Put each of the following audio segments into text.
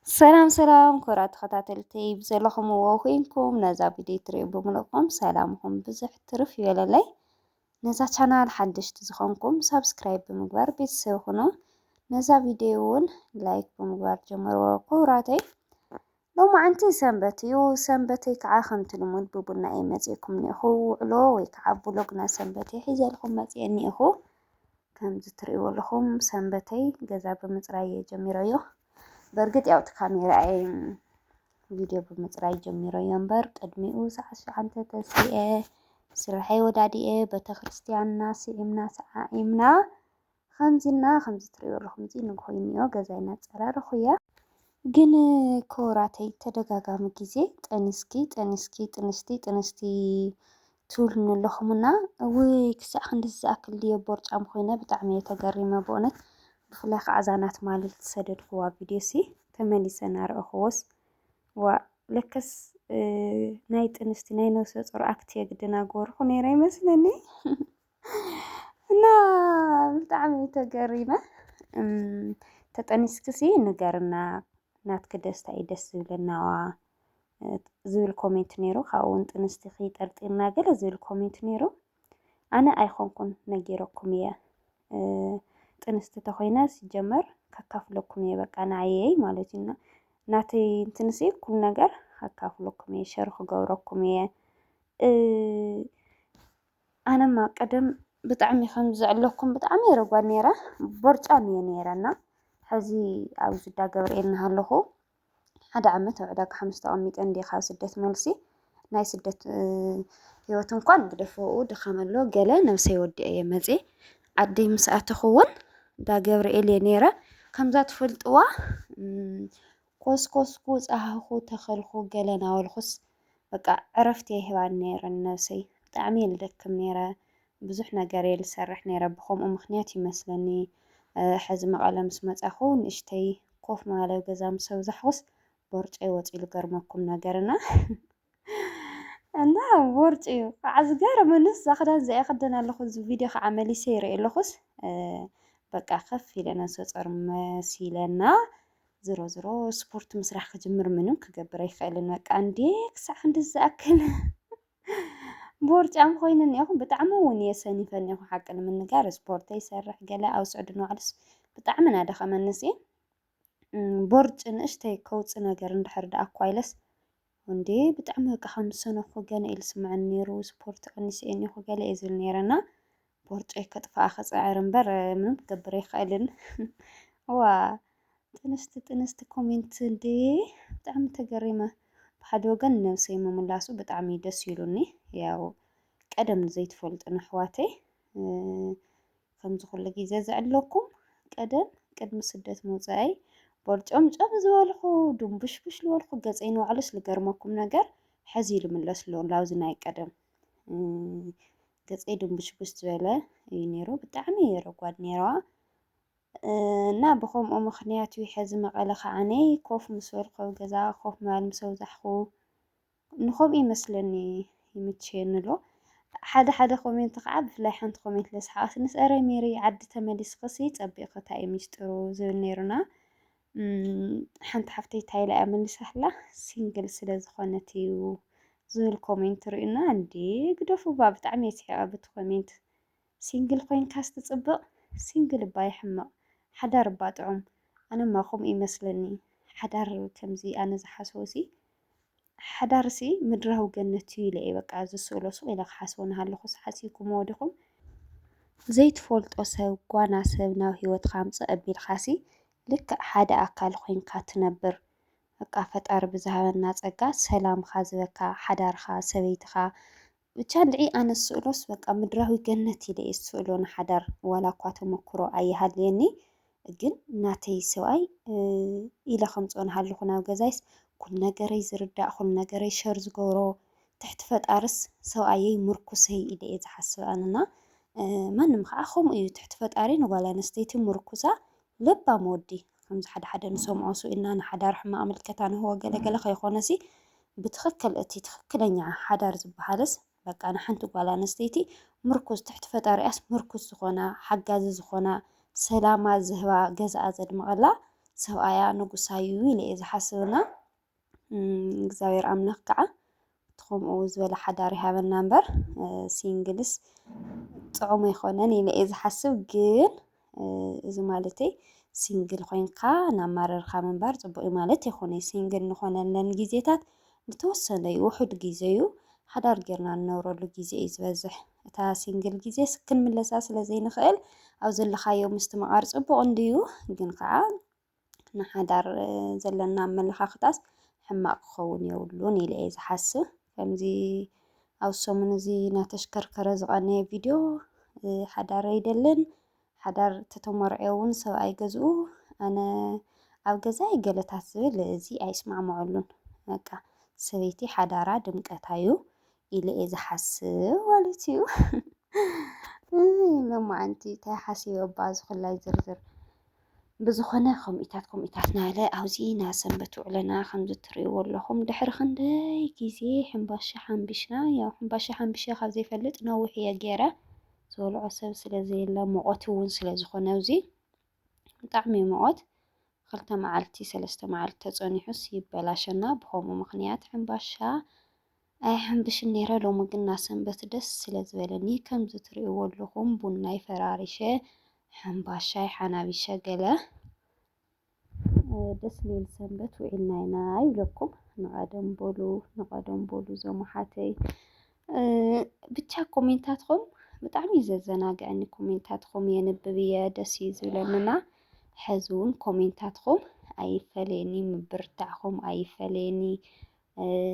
ሰላም ሰላም ክብራ ተኸታተልቲ ብዘለኹምዎ ኮይንኩም ነዛ ቪድዮ ትሪኡ ብምልእኩም ሰላምኹም ብዙሕ ትርፍ ይበለለይ። ነዛ ቻናል ሓደሽቲ ዝኾንኩም ሳብስክራይብ ብምግባር ቤተሰብ ኹኑ። ነዛ ቪድዮ እውን ላይክ ብምግባር ጀምርዎ ክብራተይ። ሎሚ ዓንቲ ሰንበት እዩ። ሰንበተይ ከዓ ከምቲ ልሙድ ብቡና እየ መፂእኩም እኒኹ ውዕሎ ወይ ከዓ ብሎግና ሰንበተይ ሒዘልኩም መፂአ እኒኹ። ከምዚ ትርእይዎ ኣለኹም ሰንበተይ ገዛ ብምፅራይ እየ ጀሚረዮ። በእርግጥ ያው እቲ ካሜራይ ቪድዮ ብምፅራይ ጀሚረዮ እምበር ቅድሚኡ ሰዓት ሸዓንተ ተሲኤ ስርሐይ ወዳዲኤ ቤተክርስትያንና ስዒምና ሰዓዒምና ከምዚና ከምዚ ትርእይዎ ኣለኹም እዚ ንግሆ እኒኦ ገዛይ እናፀራረኹ እየ። ግን ክቡራተይ ተደጋጋሚ ግዜ ጥንስኪ ጥንስኪ ጥንስቲ ጥንስቲ ትብሉኒ ኣለኹም እና እውይ ክሳዕ ክንድዚ ዝኣክል ድየ ቦርጫም ኮይነ ብጣዕሚ እየ ተገሪመ ብእውነት ብፍላይ ከዓ እዛ ናት ማለት ዝሰደድክዋ ቪድዮ ሲ ተመሊሰ እናረኣኹዎስ ዋእ ለከስ ናይ ጥንስቲ ናይ ነብሰ ጾር ኣክት የግደናገርኩ ነይረ ይመስለኒ እና ብጣዕሚ ተገሪመ ተጠኒስክሲ ንገርና ናትኪ ደስታ እዩ ደስ ዝብለናዋ ዝብል ኮሜንት ነይሩ ካብኡ እውን ጥንስቲኺ ጠርጢርና ገለ ዝብል ኮሜንት ነይሩ ኣነ ኣይኮንኩን ነጊረኩም እየ ጥንስቲ ተኮይነ ሲጀመር ከካፍለኩም እየ በቃ ንዓየይ ማለት እዩ ናተይ እንትንሲ ኩሉ ነገር ከካፍለኩም እየ ሸር ክገብረኩም እየ ኣነማ ቀደም ብጣዕሚ ከም ዝዕለኩም ብጣዕሚ የረጓድ ነይረ ቦርጫም እየ ነይረና ሕዚ ኣብ ዝዳ ገብርኤል እናሃለኹ ሓደ ዓመት ኣብ ዕዳጋ ሓሙስ ተቐሚጠ እንድየ ካብ ስደት መልሲ ናይ ስደት ህይወት እንኳን ግደፈኡ ድኻም ኣሎ ገለ ነብሰይ ወዲኤ እየ መፅየ ዓደይ ምስ ኣተኹ እውን እንዳ ገብርኤል እየ ነይረ ከምዛ ትፈልጥዋ ኮስኮስኩ ፃህኹ ተኸልኩ ገለ ናበልኩስ በቃ ዕረፍቲ ኣይህባን ነይረን ነብሰይ ብጣዕሚ እየ ልደክም ነይረ ብዙሕ ነገር እየ ልሰርሕ ነይረ ብኸምኡ ምኽንያት እዩ መስለኒ ሐዚ መቐለ ምስ መፃኹ ንእሽተይ ኮፍ ምባል ኣብ ገዛ ምስ ኣብዛሕኹስ ቦርጨይ ወፂኡ ልገርመኩም ነገር እና እና ቦርጭ እዩ ከዓ ዝገርመንስ እዛ ክዳን እዚኣ ይኽደን ኣለኹ እዚ ቪድዮ ከዓ መሊሰ ይርኢ ኣለኹስ በቃ ከፍ ኢለ ነብሰ ፆር መሲለና ዝሮ ዝሮ ስፖርት ምስራሕ ክጅምር ምንም ክገብር ኣይክእልን በቃ እንዴ ክሳዕ ክንዲ ዝኣክል ቦርጫም ኾይነ እኒኦኹ ብጣዕሚ እውን እየ ሰኒፈ እኒኦኹ ሓቂ ንምንጋር ስፖርተይ ይሰርሕ ገለ ኣብ ስዑዲ ንባዕሉስ ብጣዕሚ እናደኸመንስ እየ ቦርጭ ንእሽተይ ከውፅ ነገር እንድሕር ደኣ እኳ ኢለስ እንዴ ብጣዕሚ በቃ ከም ዝሰነኹ ገለ ኢሉ ስምዐኒ ነይሩ ስፖርት ቀኒሰ እየ እኒኦኹ ገለ እየ ዝብል ነይረና ቦርጨይ ከጥፍኣ ክፅዕር እምበር ምንም ክገብር ኣይክእልን እዋ ጥንስቲ ጥንስቲ ኮሜንት እንዴ ብጣዕሚ ተገሪመ ብሓደ ወገን ነብሰይ ምምላሱ ብጣዕሚ ደስ ኢሉኒ ያው ቀደም ዘይትፈልጡን ኣሕዋተይ ከምዚ ኩሉ ግዜ ዝዕለኩም ቀደም ቅድሚ ስደት ምውፃኣይ ቦርጨምጨም ዝበልኩ ድንቡሽቡሽ ዝበልኩ ገፀይ ንባዕሉስ ዝገርመኩም ነገር ሕዚ ይልምለስ ኣሎ ናብዚ ናይ ቀደም ገፀይ ድንቡሽቡሽ ዝበለ እዩ ነይሩ ብጣዕሚ እየ ረጓድ ነይረዋ እና ብከምኡ ምክንያት እዩ ሕዚ መቐለ ከዓነ ኮፍ ምስ በልኩ ኣብ ገዛ ኮፍ ምባል ምስ ኣብዛሕኩ ንከምኡ ይመስለኒ ይምችየኒ ኣሎ ሓደ ሓደ ኮሜንት ከዓ ብፍላይ ሓንቲ ኮሜንት ለስሓቃትንስ ኧረ ሜሪ ዓዲ ተመሊስክሲ ፀቢቕክታ እዩ ሚስጥሩ ዝብል ነይሩና ሓንቲ ሓፍተይ እንታይ ኢላ እያ መሊሳትላ ሲንግል ስለ ዝኾነት እዩ ዝብል ኮሜንት ርኡና እንዴ ግደፉ እባ ብጣዕሚ እየ ስሒቐ ብቲ ኮሜንት ሲንግል ኮይንካስ ትፅብቕ ሲንግል እባ ይሕመቕ ሓዳር እባ ጥዑም ኣነማ ከምኡ ይመስለኒ ሓዳር ከምዚ ኣነ ዝሓስቦ ሲ ሓዳርሲ ምድራዊ ገነት እዩ ኢለ እየ በቃ ዝስእሎ ሱቕ ኢለ ክሓስቦ እናሃለኹስ ሓሲብኩምዎ ዲኹም? ዘይትፈልጦ ሰብ ጓና ሰብ ናብ ህይወትካ ኣምጽእ ኣቢልካሲ ልክዕ ሓደ ኣካል ኮይንካ ትነብር በቃ ፈጣሪ ብዝሃበና ጸጋ ሰላምካ ዝበካ ሓዳርካ ሰበይትካ ብቻ እንድዒ ኣነ ዝስእሎስ በቃ ምድራዊ ገነት ኢለ እየ ዝስእሎ ንሓዳር ዋላ እኳ ተመኩሮ ኣይሃልየኒ ግን ናተይ ሰብኣይ ኢለ ከምፅኦ ንሃለኹ ናብ ገዛይስ ኩሉ ነገረይ ዝርዳእ ኩሉ ነገረይ ሸር ዝገብሮ ትሕቲ ፈጣርስ ሰብኣየይ ምርኩሰይ ኢለ እየ ዝሓስብ ኣነና ማንም ከዓ ከምኡ እዩ ትሕቲ ፈጣሪ ንጓል ኣንስተይቲ ምርኩሳ ለባም ወዲ ከምዚ ሓደ ሓደ ንሰምዖ ስኢልና ንሓዳር ሕማቅ ምልከታ ንህቦ ገለ ገለ ከይኮነሲ ብትክክል እቲ ትክክለኛ ሓዳር ዝበሃልስ በቃ ንሓንቲ ጓል ኣንስተይቲ ምርኩስ ትሕቲ ፈጣሪኣስ ምርኩስ ዝኮና ሓጋዚ ዝኮና ሰላማ ዝህባ ገዛኣ ዘድምቀላ ሰብኣያ ንጉሳዩ ኢለ እየ ዝሓስብና እግዚኣብሔር ኣምላኽ ከዓ እቲ ከምኡ ዝበለ ሓዳር ይሃበና እምበር ሲንግልስ ጥዑም ኣይኮነን ኢለ እየ ዝሓስብ። ግን እዚ ማለተይ ሲንግል ኮይንካ ናብ ማረርካ ምንባር ፅቡቅ እዩ ማለት ኣይኮነይ። ሲንግል ንኾነለን ግዜታት ዝተወሰነ እዩ ውሑድ ግዜ እዩ ሓዳር ጌርና ንነብረሉ ግዜ እዩ ዝበዝሕ። እታ ሲንግል ግዜስ ክንምለሳ ስለ ዘይንኽእል ኣብ ዘለኻዮ ምስትምቓር ፅቡቅ እንድዩ ግን ከዓ ንሓዳር ዘለና ኣመለኻኽታስ ሕማቕ ክኸውን የብሉን ኢለ እየ ዝሓስብ። ከምዚ ኣብ ሰሙን እዚ እናተሽከርከረ ዝቐነየ ቪድዮ ሓዳር ኣይደልን፣ ሓዳር ተተመርዕዮ እውን ሰብኣይ ገዝኡ ኣነ ኣብ ገዛይ ገለታት ዝብል እዚ ኣይስማዕምዐሉን። በቃ ሰበይቲ ሓዳራ ድምቀታ እዩ ኢለ እየ ዝሓስብ ማለት እዩ። ሎማዓንቲ እንታይ ሓሲበ እባ ዝኽላይ ዝርዝር ብዝኾነ ከምኢታት ከምኢታት ናለ ኣብዚ ናይ ሰንበት ውዕለና ከምዚ ትርእይዎ ኣለኹም ድሕሪ ክንደይ ግዜ ሕምባሻ ሓምቢሽና ያው ሕምባሻ ሓምቢሸ ካብ ዘይፈልጥ ነዊሕ እየ ገይረ ዝበልዖ ሰብ ስለ ዘየለ ሙቐት እውን ስለ ዝኾነ ኣብዚ ብጣዕሚ ሙቐት ክልተ መዓልቲ ሰለስተ መዓልቲ ተጸኒሑስ ይበላሸና ብኸምኡ ምኽንያት ሕምባሻ ኣይሓምብሽን ነይረ ሎሚ ግና ሰንበት ደስ ስለ ዝበለኒ ከምዚ ትርእይዎ ኣለኹም ቡናይ ፈራሪሸ ሕምባሻይ ሓናቢሸ ገለ ደስ ዝብል ሰንበት ውዒልና ኢና ይብለኩም ንቐደም በሉ ንቐደም በሉ ዘሙሓተይ ብቻ ኮሜንታትኹም ብጣዕሚ እዩ ዘዘናግዐኒ ኮሜንታትኹም የንብብ እየ ደስ እዩ ዝብለኒና ሕዚ እውን ኮሜንታትኹም ኣይፈለየኒ ምብርታዕኹም ኣይፈለየኒ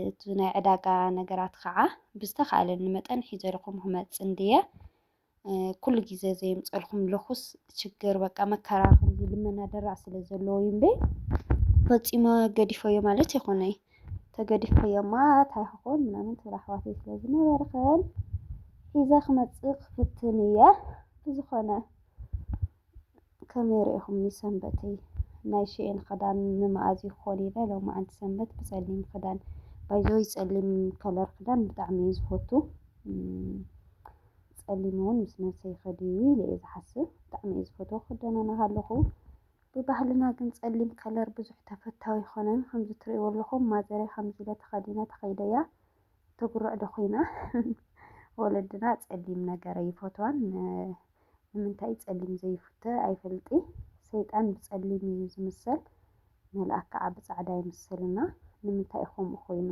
እቲ ናይ ዕዳጋ ነገራት ኸዓ ብዝተኻእለኒ መጠን ሒዘልኹም ክመፅእ እንድየ። ኩሉ ግዜ ዘየምፀልኩም ልኩስ ችግር በቃ መከራ ከምዚ ልመና ደራዕ ስለ ዘለዎ እዩ እምበይ ፈፂመ ገዲፈዮ ማለት ይኹነይ ተገዲፈዮማ ታይ ክኾን ምናምን ትብል ኣሕዋተይ ስለ ዝነበርኽን ሒዘ ክመፅእ ክፍትን እየ ብዝኾነ ከመይ ርኢኹምኒ ሰንበተይ? ናይ ሽኤን ኽዳን ንመኣዝ ይኾን ኢለ ሎምዓንቲ ሰንበት ብፀሊም ኽዳን ባይዘወይ ፀሊም ከለር ኽዳን ብጣዕሚ እየ ዝፈቱ ፀሊም እውን ምስ ነብሰይ ይኸድ እዩ ኢለ እየ ዝሓስብ ብጣዕሚ እየ ዝፈትዎ ክደናነ ከለኹ ብባህልና ግን ፀሊም ከለር ብዙሕ ተፈታዊ ኣይኮነን ከምዚ ትርእይዎ ኣለኹም ማዘረይ ከምዚ ኢለ ተኸዲነ ተኸይደ እያ ትጉርዕ ዶ ኹይና ወለድና ፀሊም ነገር ኣይፈትዋን ንምንታይ ጸሊም ዘይፉተ ኣይፈልጢ ሰይጣን ብጸሊም ኢዩ ዝምሰል መልኣክ ካኣ ብጻዕዳ ይምሰሉና ንምንታይ ኢዩ ከምኡ ኮይኑ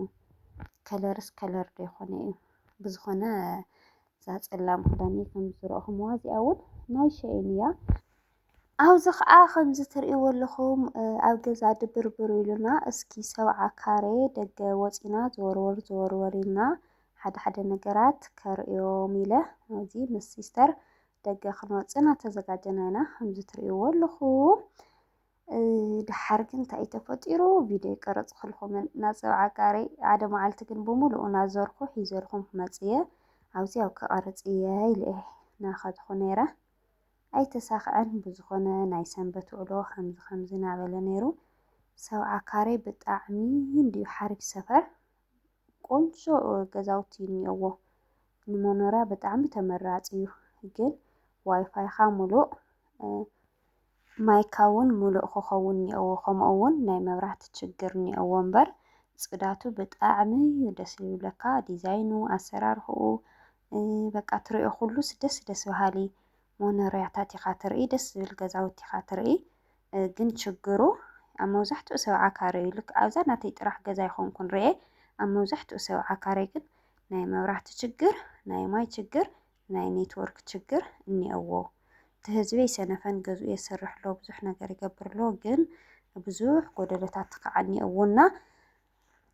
ከለርስ ከለር ዶ ይኮነ ኢዩ ብዝኮነ እዛ ጸላም ክዳነይ ከም ዝረእኩምዋ እዚኣ ውን ናይ ሸይን ኢያ ኣብዚ ከኣ ከምዚ ትርእይዎ ኣለኹም ኣብ ገዛ ድብርብር ኢሉና እስኪ ሰብዓ ካሬ ደገ ወጺና ዝወርወር ዝወርወር ኢልና ሓደ ሓደ ነገራት ከርእዮም ኢለ እዚ ምስ ሲስተር ደገ ክንወፅእ እናተዘጋጀና ኢና ከምዚ ትርእይዎ ኣለኹም ድሓር ግን እንታይ እዩ ተፈጢሩ ቪድዮ ይቀረፅክልኩም ናፀብ ዓቃሪ ሓደ መዓልቲ ግን ብምሉኡ ናዘርኩ ሒዘልኩም ክመፅየ ኣብዚ ኣብ ክቐርፅ እየ ኢለ እየ ናኸድኩ ነይረ ኣይተሳኽዐን ብዝኾነ ናይ ሰንበት ውዕሎ ከምዚ ከምዚ ናበለ ነይሩ ሰብ ዓካሬ ብጣዕሚ እንድዩ ሓሪፍ ሰፈር ቆንጆ ገዛውቲ እኒኦዎ ንመኖርያ ብጣዕሚ ተመራፂ እዩ ግን ዋይፋይካ ሙሉእ ማይካ እውን ሙሉእ ክኸውን እኒኦዎ ከምኡ እውን ናይ መብራህቲ ችግር እኒኦዎ እምበር ፅዳቱ ብጣዕሚ እዩ ደስ ዝብለካ ዲዛይኑ ኣሰራርሕኡ በቃ ትሪኦ ኩሉስ ደስ ደስ በሃሊ መኖርያታት ኢኻ ትርኢ ደስ ዝብል ገዛውቲ ኢኻ ትርኢ። ግን ችግሩ ኣብ መብዛሕትኡ ሰብ ዓካረ እዩ ልክ ኣብዛ ናተይ ጥራሕ ገዛ ይኮንኩን ርኤ ኣብ መብዛሕትኡ ሰብ ዓካረ ግን ናይ መብራህቲ ችግር ናይ ማይ ችግር ናይ ኔትወርክ ችግር እኒኦዎ እቲ ህዝበይ ሰነፈን ገዝኡ የስርሕ ኣሎ ብዙሕ ነገር ይገብር ኣሎ ግን ብዙሕ ጎደሎታት ከዓ እኒኦዎ እና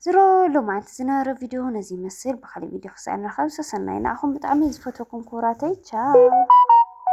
ዝሮ ሎማዓንቲ ዝነበረ ቪድዮ ነዚ ይመስል ብካሊእ ቪድዮ ክሳዕ ንራኸብ ሰሰናይ ንዓኹም ብጣዕሚ ዝፈትወኩም ክቡራተይ ቻው